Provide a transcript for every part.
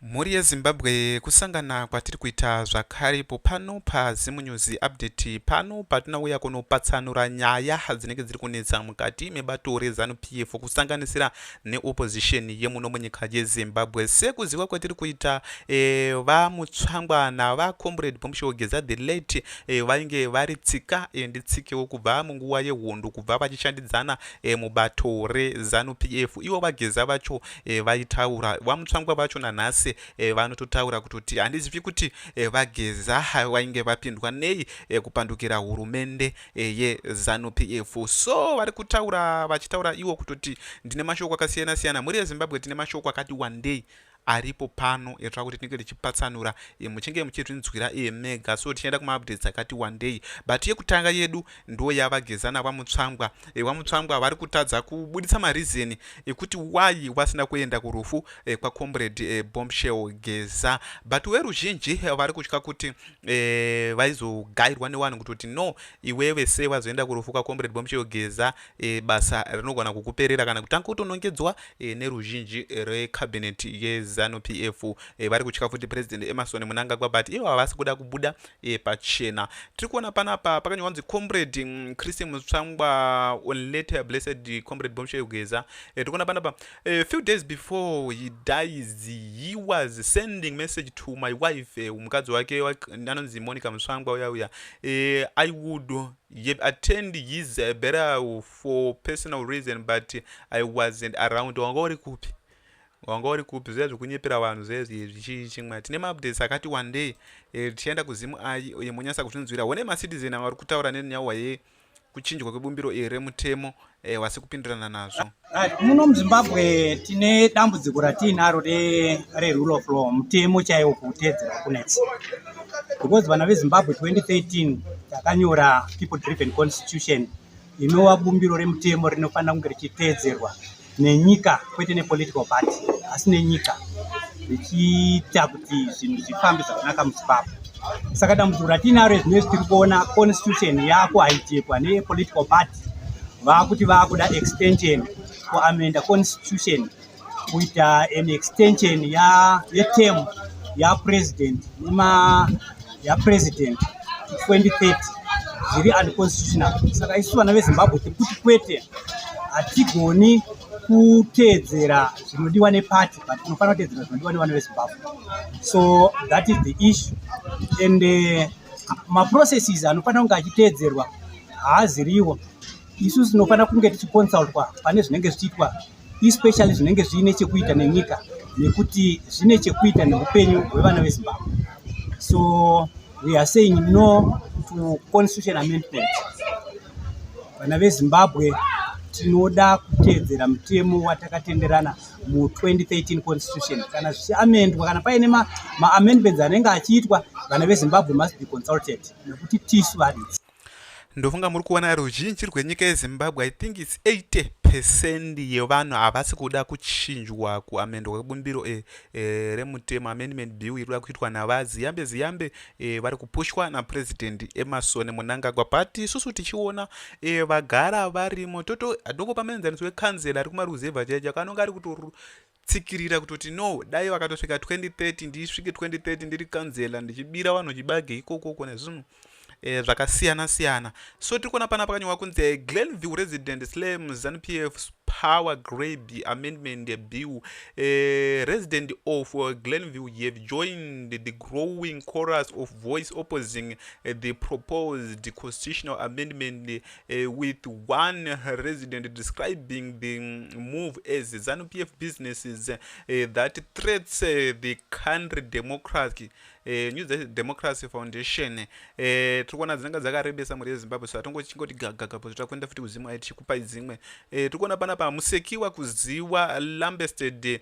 Mhuri yeZimbabwe kusangana kwatiri kuita zvakare ipo pano paZimunews Update pano patinauya kunopatsanura nyaya dzinenge dziri kunetsa mukati mebato reZanu PF kusanganisira neopposition yemuno munyika yeZimbabwe. Sekuziva kwatiri kuita e, eh, vaMutsvangwa navaComrade Bombshell Geza the late e, vainge vari tsika e, nditsikewo kubva munguva yehondo kubva vachishandidzana e, mubato reZanu PF. Ivo vaGeza vacho e, vaitaura vamutsvangwa vacho nanhasi e, vanototaura kutoti handizivi kuti e, vageza vainge vapindwa nei e, kupandukira hurumende e, yezanu pf so vari kutaura vachitaura iwo kutoti ndine mashoko akasiyana siyana mhuri yezimbabwe tine mashoko akati wandei aripo pano etsva kuti tinenge tichipatsanura e, muchinge muchizvinzwira e, mega so tichaenda kumaupdates akati wandei but yekutanga yedu ndo yava gezana vamutsvangwa e, vamutsvangwa vari kutadza kubuditsa mareason ekuti why vasina kuenda kurufu e, kwacomrade e, bombshell geza but weruzhinji vari kutya kuti e, vaizogairwa nevanhu kutoti no iwewe se vazoenda kurufu kwacomrade bombshell geza e, basa rinogona kukuperera kana kutanga kutonongedzwa e, neruzhinji recabinet yezanu p f e, vari kutya futi president emerson munangagwa but ivo havasi kuda kubuda e, pachena tiri kuona panapa pakanyorwa kunzi comrade mm, christian mutsvangwa on later blessed comrade bomshel geza e, tiri kuona panapa a few days before he dies he was sending message to my wife e, mukadzi wake anonzi monica mutsvangwa uya uya e, i would attend his uh, burial for personal reason but i wasn't around wanga uri kupi wanga uri kupi zviya zvekunyepera vanhu zvezvizvi chii chimwe tine maupdates akati wandei e, tichaenda kuzimu ayi uye monyasa kuzvinzwira one macitizen ava vari kutaura nenyauwa ye kuchinjwa kwebumbiro iri remutemo e, wasi kupindirana nazvo ah, muno muzimbabwe tine dambudziko ratiinaro rerule of law mutemo chaiwo kuutedzera kunetsi because vana vezimbabwe 2013 takanyora people driven constitution inova bumbiro remutemo rinofanira kunge richiteedzerwa nenyika kwete nepolitical party asi nenyika richiita kuti zvinhu zvifambe zvakanaka muzimbabwe saka dambudziko ratinaro zvinoi tiri kuona constitution yako haichekwa nepolitical party vaakuti vaakuda extension kuamenda constitution kuita an extension ya yeterm yapresident nema yapresident 2030 zviri unconstitutional saka isu vana vezimbabwe tiri kuti kwete hatigoni kuteedzera zvinodiwa neparty but tinofanira kuteedzera zvinodiwa nevana vezimbabwe so that is the issue and uh, maprocesses anofanira kunge achiteedzerwa haaziriwo isu tinofanira kunge tichiconsultwa pane zvinenge zvichiitwa especially zvinenge zviine chekuita nenyika nekuti zvine chekuita neupenyu hwevana vezimbabwe so we are saying no to constitution amendment vana vezimbabwe tinoda kuteedzera mutemo watakatenderana mu2013 constitution kana zvichiamendwa kana paine maamendments ma anenge achiitwa vana vezimbabwe must be consulted nekuti tisu varidzi ndofunga muri kuona ruzhinji rwenyika yezimbabwe i think its 80 percent yevanhu havasi kuda kuchinjwa kuamendwa kwebumbiro e, e, remutemo amendment bill iri kuda kuitwa navaziyambe ziyambe e, vari kupushwa napurezidendi emasoni munangagwa but isusu tichiona e, vagara varimo toto adoko pamaenzaniso wekanzela ari kumaruzevha chaicho akanonga ari kuto tsikirira kutoti no dai vakatosvika 2030 ndisvike 2030 ndiri kanzela ndichibira vanhu chibage ikokoko nezvinhu eh, zvakasiyana siyana so tiri kuona pana pakanyorwa kunzi eh, glenview resident slam zanu p f power graby amendment bill eh, resident of uh, glenview you have joined the growing chorus of voice opposing uh, the proposed constitutional amendment uh, with one resident describing the move as ZANU-PF businesses uh, that threats uh, the country democracy Eh, new democracy foundation eh, tiri kuona dzinenge dzakarebesa mhuri yezimbabwe so hatongochingoti gagagapo zvota kuenda futi kudzimwe tichikupai dzimwe eh, tiri kuona panapa musekiwa kuziwa lambested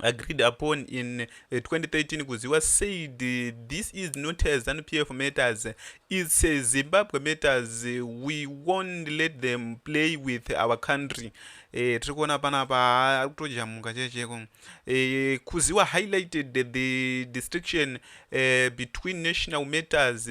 agreed upon in 2013 eh, kuziwa said this is not a zanu pf matters it's a zimbabwe matters we won't let them play with our country eh, tiri kuona panapa ari kutojamuka checheko eh, kuziwa highlighted the distinction eh, between national matters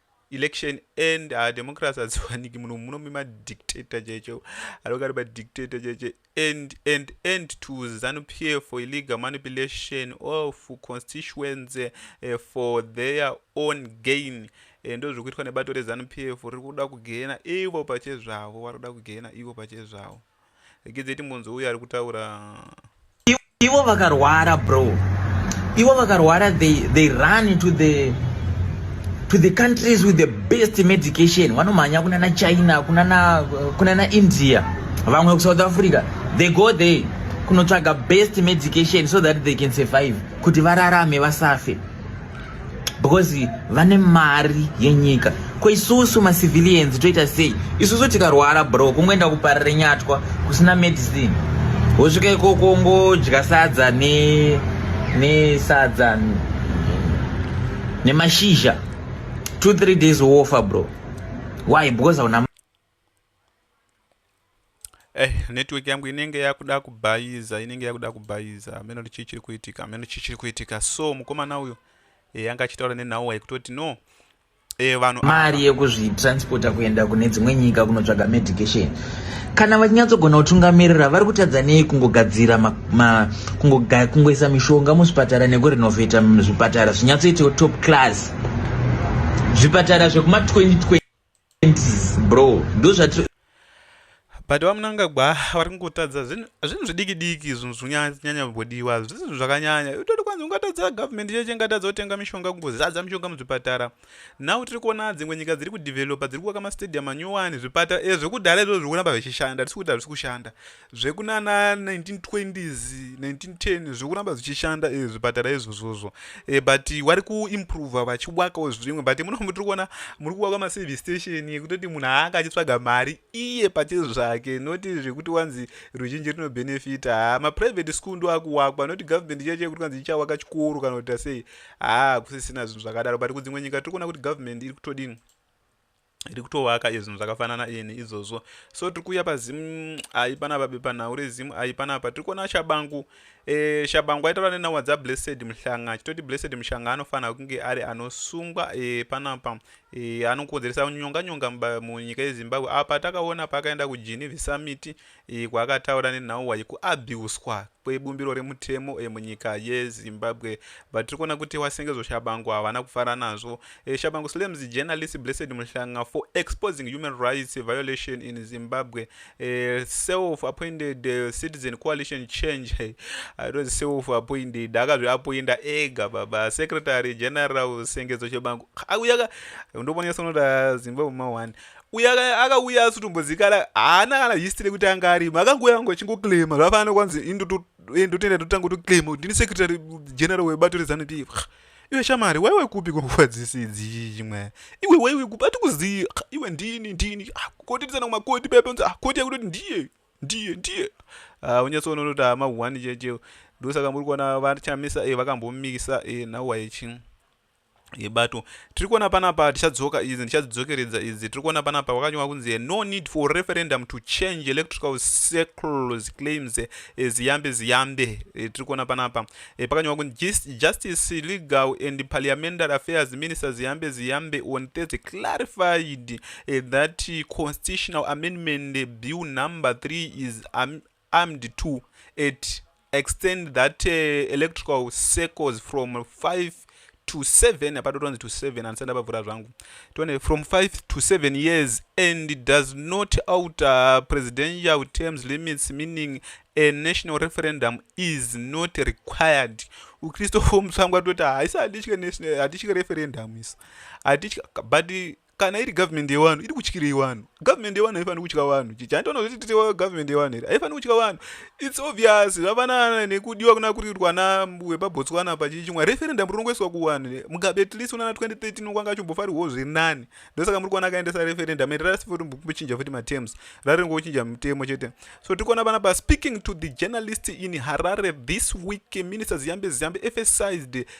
election and uh, democracy hadziwaniki muno muno mima dictator chaicho anonga ari madictator chaicho and and and to zanu p f for illegal manipulation of constituency uh, for their own gain eh, ndo zviri kuitwa nebato rezanu p f riri kuda kugena ivo pache zvavo vari kuda kugena ivo pache zvavo Regedzei timbonzwa uyo ari kutaura. Ivo vakarwara bro. Ivo vakarwara they they run to the to the countries with the best medication. Vanomhanya kuna na China, kuna na kuna na India. Vamwe ku South Africa. They go there kunotsvaga best medication so that they can survive kuti vararame vasafe. because vane mari yenyika ko isusu macivilians toita sei isusu tikarwara bro kungoenda kuparire nyatwa kusina medicine wosvika ikoko ngodya sadza ne nesadza nemashizha two three days wofa bro why because hauna Eh, network yangu inenge yakuda kubhayiza inenge yakuda kubhayiza hameno kuti chii chiri kuitika hameno chii chiri kuitika so mukomana uyo e, eh, anga achitaura nenhau yekutoti no e, vanhu mari yekuzvitransporta kuenda kune dzimwe nyika kunotsvaga medication kana vachinyatsogona kutungamirira vari kutadza nei kungogadzira kungoisa mishonga muzvipatara nekurenovheta zvipatara zvinyatsoitawo top class zvipatara zvekuma 2020 bro ndozvatiri but vamunangagwa vari kungotadza zvinhu zvidiki diki zvinhu zvinyanya kumbodiwa zvisi zvinhu zvakanyanya utoti kwanzi ungatadza government cheche ingatadza kutenga mishonga kungozadza mishonga muzvipatara now tiri kuona dzimwe nyika dziri kudevelopa dziri kuvaka mastadium anyowani zvipatara ezvekudhara izvo zviri kuramba zvichishanda tisi kuti hazvisi kushanda zvekunana 1920s 1910 zvekuramba zvichishanda eh, zvipatara izvozvozvo eh, but wari kuimprova vachiwakawo zvimwe but munomu tiri kuona muri kuwaka maservice station yekutoti munhu aanga achitsvaga mari iye pache zvake noti zvekuti wanzi ruzhinji rinobenefita haa maprivate school ndo akuwakwa noti government chiya chiya kuti kanzi ichawaka chikoro kana kuita sei haa kusisina zvinhu zvakadaro but kudzimwe nyika tiri kuona kuti government iri kutodini iri kutovaka iyo zvinhu zvakafanana iye neizvozvo so tiri kuuya pazim ayi panapa bepanhau rezim ayi panapa tiri kuona shabangu e, shabangu aitaura nenhauwa dzablessed muhlanga achitoti blessed mushanga anofanira kunge ari anosungwa e, panapa e, anokonzeresa nyonga nyonga munyika yezimbabwe apa takaona paakaenda kujinivi samiti e, kwaakataura nenhauwa yekuabiuswa kwebumbiro remutemo e, munyika yezimbabwe but tiri kuona kuti wasengezo shabangu havana kufara nazvo e, shabangu slams journalist blessed muhlanga for exposing human rights violation in zimbabwe e, self appointed uh, citizen coalition change hey, i don't self appointed akazviapoinda ega baba secretary general sengezo shabangu auya ka ndobonesa unoda zimbabwe ma one uye akauya asitombozikana haana kana history yekuti anga arimo akangouya angu achingoclaima zvafanana kwanzi eh, ndotenda totanga toclaima kuti ndini secretary general webato rezanup iwe shamari waiwe kupi kwanguva dzese idzii chimwe iwe waiwe kupi atikuzivi iwe ndini ndini ah, koti tisana kumakoti peponzi ah, koti yakutoti ndiye ndiye ndiye ah, unyatsoona unoti hama one cheche ndosaka muri kuona vachamisa eh, vakambomisa eh, now waichi yebato tiri kuona panapa tichadzoka idzi ndichadzidzokeredza idzi tiri kuona panapa wakanyorwa kunzi no need for referendum to change electrical circles claims ziyambe ziyambe eh, tiri kuona panapa eh, pakanyorwa kunzi justice legal and parliamentary affairs minister ziyambe ziyambe on thursday clarified eh, that constitutional amendment bill number 3 is um, armed to at extend that uh, electrical circles from 5 to 7 apa totonzi to 7 andisati ndapavhura zvangu tione from 5 to 7 years and does not outer presidential terms limits meaning a national referendum is not required ukristofomusangwa toti hatitye referendum isu hatitye but kana iri government yewanhu iri kutyirei wanhu government yewanhu haifaniri kutya wanhu chichi handitoona kuti titi government yewanhu here haifaniri kutya wanhu its obvious zvafanana nekudiwa kuna kuri kuitwa na wepabotswana pachichimwa referendum rinongoiswa kuwanhu mugabe at least unana 2013 ukwanga achimbofarirwawo zviri nani ndosaka muri kuona akaendesa referendum and rasi futi kuchinja futi matems rari ringochinja mutemo chete so tiri kuona panapa speaking to the journalist in harare this week minister ziyambe ziyambe emphasized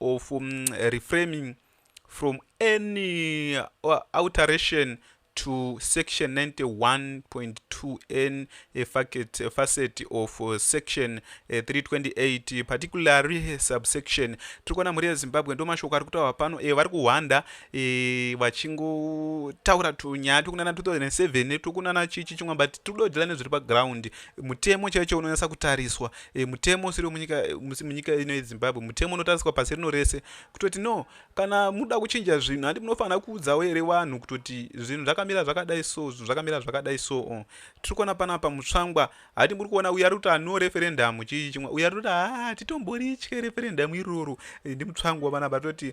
of um, reframing from any uh, alteration to section 91.2n a facet, a facet of uh, section uh, 328 particularly subsection tiri kuona mhuri yezimbabwe ndo mashoko ari kutaura pano e, vari kuhwanda e, vachingotaura tunyaya tokunana 2007 tokunana chichi chimwe but tiri kudodzera nezviri paground mutemo chaicho unonyatsa kutariswa e, mutemo usiri munyika munyika ino yezimbabwe mutemo unotariswa pasi rino rese kutoti no kana muda kuchinja zvinhu handi munofanira kuudzawo here vanhu kutoti zvinhu zvakamira zvakadai so zvinhu zvakamira zvakadai so o tiri kuona panapa mutsvangwa hati muri kuona uyo ari kuti ano referendamu chii chimwe uyo ari kuti haa titomboritye referendamu iroro e, ndi mutsvangwa panapa toti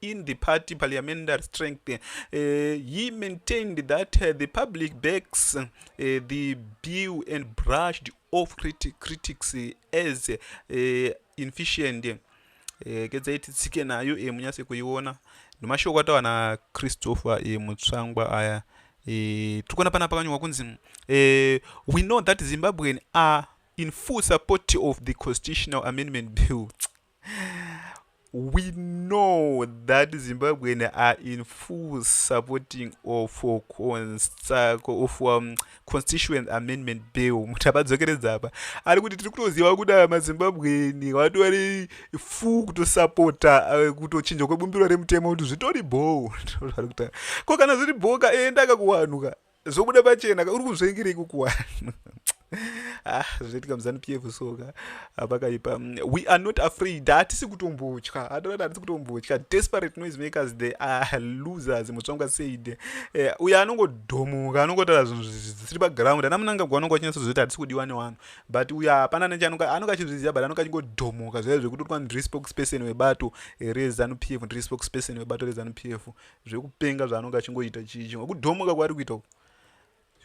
in the party parliamentary strength uh, he maintained that uh, the public backs uh, the bill and brushed off criti critics as uh, inefficient uh, kedzai titsike nayo e munyase kuiona nemashoko atawa na christopher e mutsvangwa aya e, tikuona pana pakanyorwa kunzi e, we know that zimbabwean are in full support of the constitutional amendment bill we know that zimbabwean are in full supporting of uh, of um, constituent amendment bill muti abadzokeredza apa ari kuti tiri kutoziva kuti aya mazimbabwean vatori full kutosapota uh, kutochinja kwebumbiro remutemo kuti zvitori bhoo ko kana zviri bhoo ka enda kakuwanhu ka zvobuda pachena ka uri kuzvengera ikuku wani ah zvoitika muzanu pf soka apakaipa mm, we are not afraid hatisi kutombotya hatoati hatisi kutombotya desperate noise makers they are losers mutsvangwa said eh, uyo anongodhomoka anongotaura zvinhu zvisiri paground ana munangagwa anonga achinatsa zvoita hatisi kudiwa newanhu but uyo hapana neche anonga anonga achizviziva but anonga achingodhomoka zvaiva zvekutotwa ndiri spokesperson webato rezanu pf ndiri spokesperson webato rezanu pf zvekupenga zvaanonge achingoita chii chimwe kudhomoka kwaari kuita uku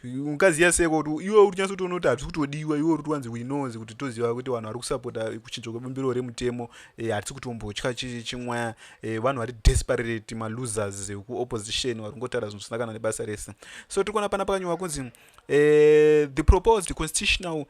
ungaziva sei kuti iwe uri kunyaso kuti unoti hatisi kutodiwa iwe uri tiwanzi winozi kuti toziva kuti vanhu vari kusapota kuchinja kwebumbiro remutemo eh, hatisi kutombotya chimwaya eh, vanhu vari desperate malosers ekuopposition vari kungotaura zvinhu zvisina kana nebasa rese so tiri kuona pana pakanyorwa kunzi eh, the proposed constitutional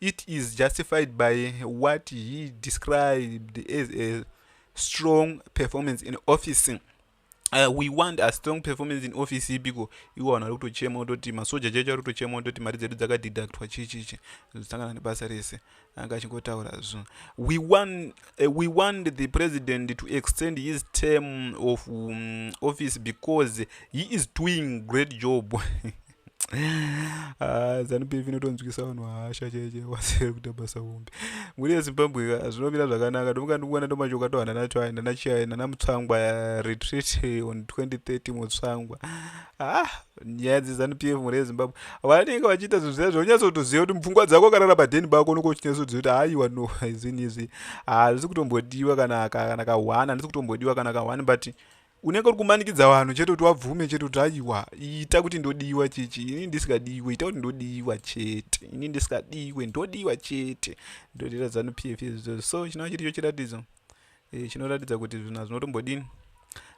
it is justified by what he described as a strong performance in office Uh, we want a strong performance in office ibiko iwo vanhu vari kutochema kutoti masoja chaicho ari kutochema kutoti mari dzedu dzakadeductwa chii chii chii zvinosangana nebasa rese anga achingotaura zvo we want, uh, we want the president to extend his term of um, office because he is doing great job Ah, zanupf inotonzwisa vanhu hasha chaiche wasere kuita basa hombe mhuri yezimbabwe ka zvinomira zvakanaka ndomuka ndikuona ndomachoka tohana nacho ayi nanachiyayi nanamutsvangwa ya retreat on 2030 mutsvangwa ah nyaya dzezanupf mhuri yezimbabwe vanenge vachiita zvinhu zviya zvaunyatsotoziva kuti mupfungwa dzako akarara padheni bako unenge uchinyatsoziva kuti haiwa no izini izvi hazvisi kutombodiwa kana kana kahwana handisi kutombodiwa kana kahwani but unenge uri kumanikidza vanhu chete kuti wabvume chete kuti aiwa ita kuti ndodiwa chichi ini ndisikadiwe ita kuti ndodiwa chete ini ndisikadiwe ndodiwa chete ndodira zanu p f so chinova chiricho chiratidzo eh, chinoratidza kuti zvinhu hazvinotombodini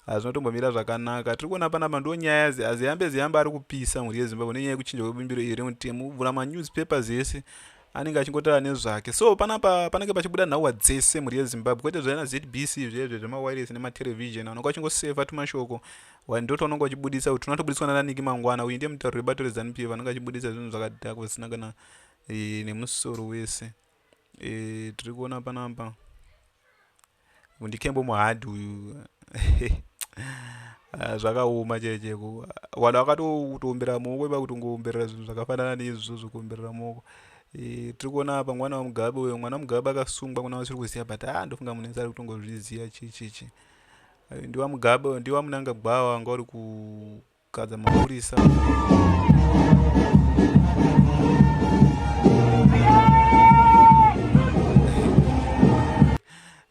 hazvinotombomira zvakanaka tiri kuona panapa ndo nyaya ziyambe ziyambe ari kupisa mhuri yezimbabwe nenyaya yekuchinja kwebumbiro iri remutemo vhura manewspapers ese anenge achingotaura nezvake so panapa panenge pachibuda nhauwa dzese mhuri yezimbabwe kwete zvaana zbc zvezve zvemawiresi nematelevision anonga achingoseva tumashoko ndo twaunonga uchibudisa kuti tunatobudiswa nananiki mangwana uyu ndiye mutauri webato rezanup ef anonga achibudisa zvinhu zvakadhaka kusina kana e, nemusoro wese e, tiri kuona panapa Mundikembo muhard uyu. Ah, zvakaoma chee chee vanhu vakatoumbira muoko iva kuti ungoumberera zvinhu zvakafanana neizvozvo zvekuumberera muoko e, tiri kuona apa mwana wamugabe uyo mwana wamugabe akasungwa kuna vasiri kuziva but a ah, ndofunga munhu wese ari kutongozviziva chii chii chii ndiwa mugabe ndiwa munangagwa wanga uri gadza mapurisa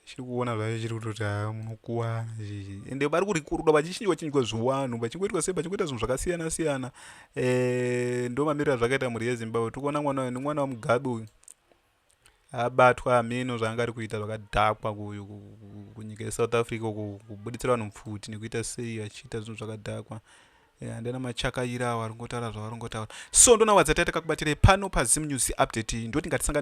chiri kuona zvacho chiri kutoti haa munokuwana chii ende vari kurikuruda vachichinjwa chinjwa zviwanhu vachingoitwa sei vachingoita zvinhu zvakasiyana siyana eh, ndo mamiriro azvakaita mhuri yezimbabwe tikuona mwana uyu ni mwana wamugabe uyu abatwa hameno zvaanga ari kuita zvakadhakwa kunyika yesouth africa uko kubuditsira vanhu pfuti nekuita sei vachiita zvinhu zvakadhakwa eh, andina machakaira avo ari kungotaura zvavari kungotaura so ndonawadza taita kakubatirei pano pazim news update ndoti ngatisangane